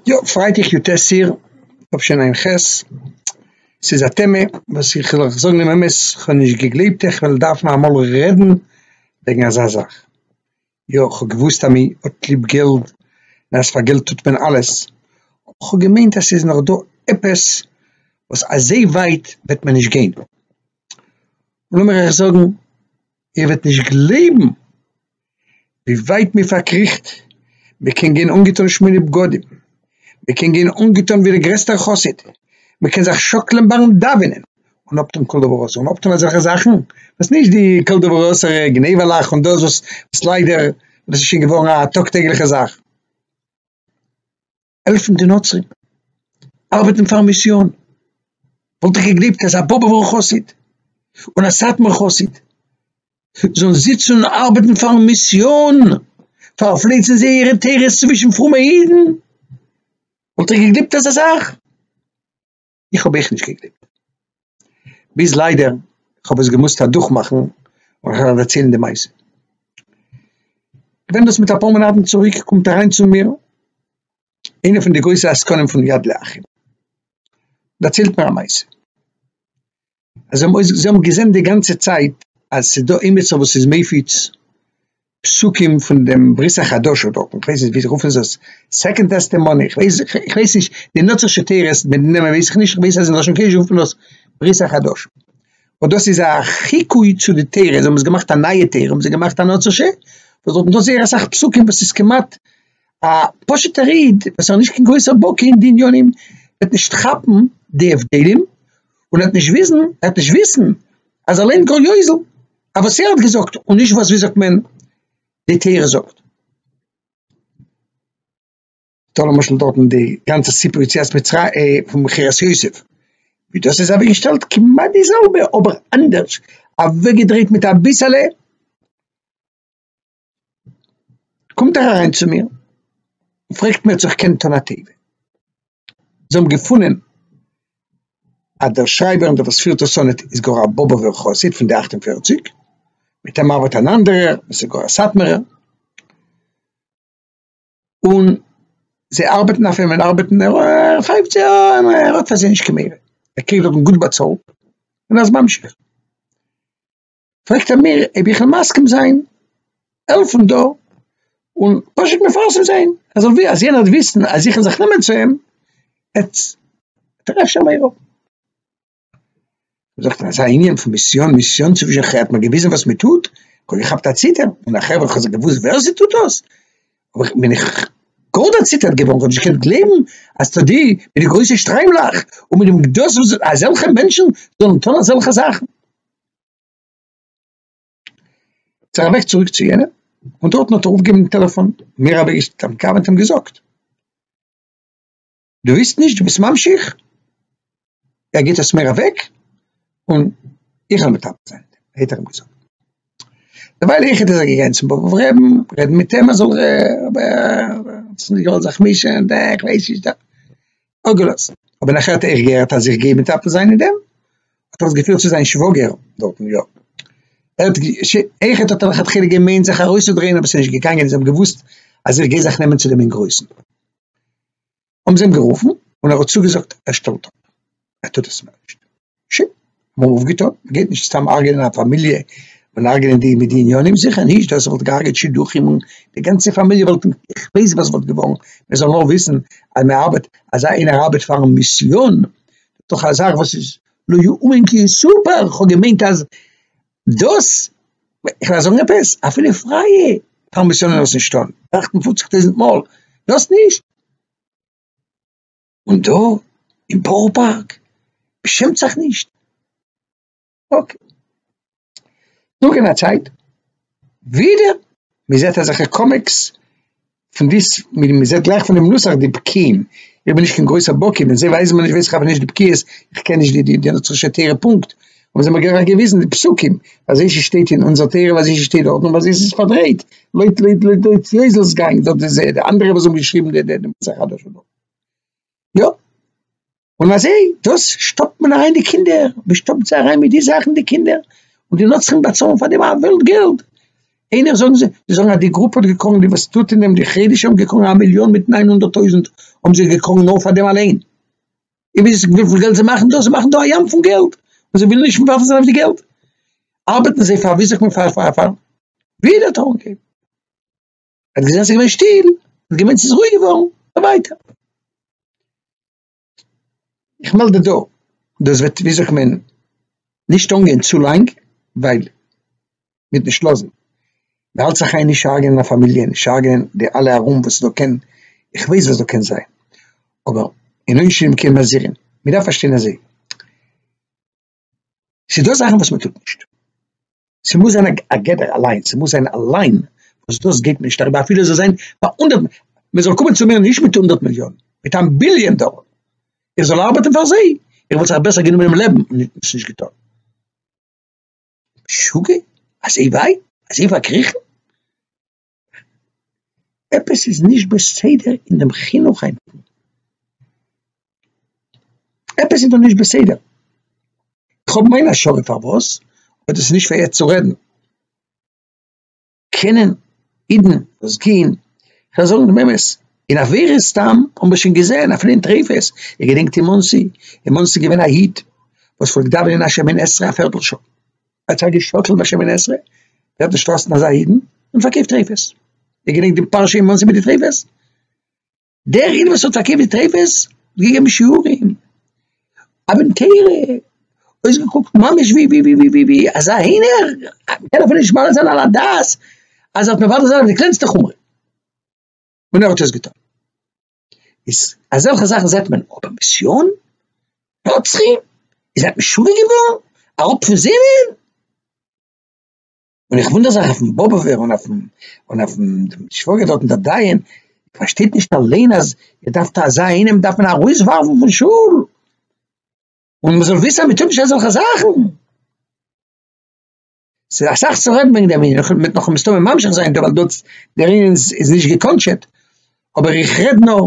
יא, פרייטאג יו ט אייר תשע ע ח, ס'איז א טעמע וואס איך זאל אייך זאגן דעם אמת איך האב נישט געגלייבט איך וועל דארפן אמאל רעדן וועגן אזא זאך, יא כ'האב געוואוסט אז מען האט ליב געלט און אז פאר געלט טוט מען אלעס, אבער כ'האב געמיינט אז ס'איז נאך דא עפעס וואס אזוי ווייט וועט מען נישט גיין, לאמיר אייך זאגן איר וועט נישט גלייבן ווי ווייט מען פארקריכט, מען קען גיין אנגעטון שמונה בגדים, מען קען גיין אנגעטון ווי דער גרעסטער חסיד, מען קען זיך שאקלען ביים דאווענען, און אפטון כל דבר אסור, און אפטון אזעלכע זאכן וואס נישט די כל דבר אסור גניבה'לעך און דאס וואס ליידער דאס איז שוין געווארן א טאג טעגליכע זאך. העלפן די נוצרים, ארבעטן פארן מיסיאן, וואלט איך געגליבט אז א באבובער חסיד און א סאטמאר חסיד זאלן זיצן און ארבעטן פארן מיסיאן, פארפלייצן זייערע תורות צווישן פרומע אידן, וואלט איך געגליבט אזא זאך. איך האב אויך נישט געגלייבט, ביז ליידער כ'האב עס געמוזט אדורכמאכן און אהער דערציילן די מעשה. כ'בין דאס מיט אפאר מאנאטן צוריק, קומט אריין צו מיר איינער פון די גרויסע עסקנים פון יד לאחים, דערציילט מיר א מעשה, אז זיי האבן אויס זיי האבן געזען די גאנצע צייט אז ס'איז דא עימיצער וואס איז מפיץ פסוקים פון דעם ברית החדשה דארטן, איך ווייס נישט וויאזוי רופן זיי עס, סעקאנד טעסטעמאני, איך ווייס איך ווייס נישט די נוצער שטערעס מיט די נעמען ווייס איך נישט, איך ווייס אז אין לשון קודש רופט מען עס ברית החדשה, און דאס איז א חיקוי צו די תורה, זיי האבן עס געמאכט א נייע תורה, האבן זיי געמאכט א נוצער ש וואס דארטן דא זייער אסאך פסוקים וואס איז כמעט א פשוטער איד וואס איז נישט קיין גרויסער בקי אין די עניינים וועט נישט כאפן די הבדלים און ער האט נישט וויסן, ער האט נישט וויסן אז ער לערנט גאר יוזל, אויף וואס ער האט געזאגט, און נישט וואס ווי זאגט מען די תורה זאגט. טא למשל דארטן די גאנצע סיפור יציאת מצרים אה, פון מכירת יוסף, ווי דאס איז אוועק געשטעלט כמעט די זעלבע אבער אנדערש אוועק געדרייט מיט אביסעלע, קומט ער אריין צו מיר און פרעגט מיר צו איך קען טון א טובה, זיי האבן געפונען אז דער שרייבער און דער וואס פירט דאס אן איז גאר א באבוב'ער חסיד פון די אַכט און פֿערציק, מיט אים ארבעט אן אנדערער וואס איז גאר א סאטמארער, און זיי ארבעטן אויף אים און ארבעטן ער פייפט זיי אן און ער האט פאר זיי נישט קיין מורא, ער קריגט דארטן גוט באצאלט און אזש ממשיך. פרעגט ער מיר אויב איך וויל מסכים זיין העלפן דא און פשוט מפרסם זיין אז אבי אז יענער וועט וויסן אז איך וויל זיך נעמען צו אים וועט ער אפשר מעיר אפ זאגט ער אזא ענין פון מיסיאן מיסיאן צווישן חברה האט מיר געוויזן וואס מען טוט כ'האב געכאפט א ציטער און א חברה האט געוואוסט ווער זי טוט דאס אבער איך בין איך גאר דערציטערט געווארן כ'האב נישט געקענט גלייבן אז טא די מיט די גרויסע שטריימלעך און מיט דעם גדלות וואס אזעלכע מענטשן זאלן טון אזעלכע זאכן זיך אַװעק צוריק צו יענעם, און דאָרטן האָט ער אָפּגעגעבן דעם טעלעפֿאָן, מיר האָבן איצט דעם קאַװע טעם געזאָגט. דו װיסט נישט? דו ביסט ממשיך? ער גיט עס מיר אַװעק, און איך װעל מטפּל זײַן מיט אים, האָט ער אים געזאָגט. דערװײַל איך איז ער געגאַנגען צום באָבעװער רעבן, רעדן מיט אים, ער זאָל רעבן, ער האָט זיך נישט געװאָלט זיך מישן, דער, איך װײס נישט, דער. אפגעלאזט, אבער נאכער האט ער געהערט אז איך גיי מטפל זיין אין דעם, האט ער עס געפירט צו זיין שוואגער דארטן, יא, ער האט איחוד האט ער לכתחילה געמיינט זיך ארויסצודרייען אבער עס איז נישט געגאנגען, זיי האבן געוואוסט אז איך גיי זיך נעמען צו דעם אינגרויסן, האבן זיי אים גערופן און ער האט צוגעזאגט ער שטעלט אפ, ער טוט עס מער נישט. ש. מ'האט אויפגעטון, מ'גייט נישט סתם הרג'נען א פאמיליע, און הרג'נען די מיט די עניינים, זיכער נישט, דאס וואלט געהארגעט שידוכים און די גאנצע פאמיליע וואלט, איך ווייס וואס וואלט געווארן, מ'זאל נאר וויסן אז מ'ארבעט, אז איינער ארבעט פאר'ן מיסיאן, דאך א זאך וואס איז לא יאומן כי יסופר, כ'האב געמיינט אז דאס, איך וועל זאגן עפעס, אפילו פרייע פאר מיסיאנער דאס נישט טון, טראכטן פופציג טויזנט מאל דאס נישט. און דא אין בארא פארק מ'שעמט זיך נישט? אקעי. נאך אין א צייט ווידער מ'זעט אזעלכע קאמיקס פון די ס מ מ'זעט גלייך פונעם נוסח די בקיאים, איך בין נישט קיין גרויסער בקי ווען זיי ווייזן מיר נישט ווייס איך אבער נישט די בקיאות, איך קען נישט די די נוצרישע תורה פונקט, האבן זיי מיר גלייך געוויזן די פסוקים אזש עס שטייט אין אונזער תורה ווי אזש עס שטייט דארטן ווי אזש עס איז פארדרייט לויט לויט לויט לויט יוזל'ס גאנג דארט איז די אנדערע וואס האבן געשריבן די די נוסח חדש וכו'. יא, און אזוי דאס שטופט מען אריין די קינדער, מען שטופט זיי אריין מיט די זאכן די קינדער, און די נוצרים באצאלן פאר דעם א וועלט געלט, איינער זאגן זיי, זיי זאגן אז די גרופע האט געקראגן די וואס טוט אין דעם די חרדישע האבן געקראגן א מיליאן מיט נײַן הונדערט טויזנט האבן זיי געקראגן נאר פאר דעם אליין, און וויס וויפיל געלט זיי מאכן דא, זיי מאכן דא א ים פון געלט, און זיי ווילן נישט מוותר זיין אויף די געלט, ארבעטן זיי פאר ווי זאגט מען פאר פאר פאר ווי דער טאון קעפ. ער האט געזען ס'איז געווען שטיל, ער האט געמיינט ס'איז רואיג געווארן, און ווייטער. איך מעלד דא, דאס וועט ווי זאגט מען, נישט אנגיין צו לאנג, ווייל מ'וועט נישט לאזן, מ'האלט זיך איין נישט הרג'נען א פאמיליע, נישט הרג'נען די אלע ארום וואס דא קען, איך ווייס וואס דא קען זיין, אבער אין עונשין כן מזהירין, מ'דארף פארשטיין אזוי. ס'איז דא זאכן וואס מ'טוט נישט, ס'מוז זיין א גדר א ליין, ס'מוז זיין א ליין וואס דאס גייט מען נישט אריבער אפילו ס'זאל זיין פאר הונדערט, מ'זאל קומען צו מיר נישט מיט הונדערט מיליאן, מיט איין ביליאן דאלער, איך זאל ארבעטן פאר זיי, איך וואלט זיך בעסער גענומען דעם לעבן און עס נישט געטון. משוגע? אזוי ווייט? אזוי פארקריכן? עפעס איז נישט בסדר אין דעם חינוך היינטיגן, עפעס איז דא נישט בסדר, כ'האב מיין השערה פארוואס, אבער דאס איז נישט פאר יעצט צו רעדן. קענען אידן וואס גיין, כ'וועל זאגן דעם אמת, אין עבירות סתם האבן מיר שוין געזען אפילו אין טריפות, איר געדענקט אין מאנסי, אין מאנסי איז געווען א איד וואס פלעגט דאווענען השמין עשרה א פערטל שעה, האט זיך געשאקלט ביי שמיני עשרה, ער האט נישט טראסטן אזא אידן, און פארקויפט טריפות. איר געדענקט דעם פרשה אין מאנסי מיט די טריפות? דער איד וואס האט פארקויפט די טריפות האט געגעבן שיעורים, א בן תורה, אויסגעקוקט ממש ווי ווי ווי ווי ווי אזא הינער, מ'קען אפילו נישט מעלה זיין על הדעת אז ער האט מוותר זיין אויף די קלענסטע חומרא. און ער האט עס געטון. איז אזעלכע זאכן זעט מען אבער מיסיאן רוצחים איז עפעס שוגע געווארן אראפ פון זינען? און איך וואונדער זיך אויפן באבובער און אויפן און אויפן דעם שוואגער דארטן דער דיין פארשטייט נישט אליין אז ער דארף טאר זיין אינעם דארף מען ארויסווארפן פון שול און מ'זאל וויסען אז מ'טוט נישט אזעלכע זאכן. ס'איז אסאך צו רעדן וועגן דעם ענין, און מ'וועט נאך מסתמא ממשיך זיין דא, ווייל דאס, דער ענין איז איז נישט געקאנטשעט, אבער איך רעד נאר,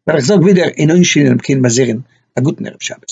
ווייל איך זאג ווידער אין עונשין און אין בקין מזירין, א גוטן ערב שבת.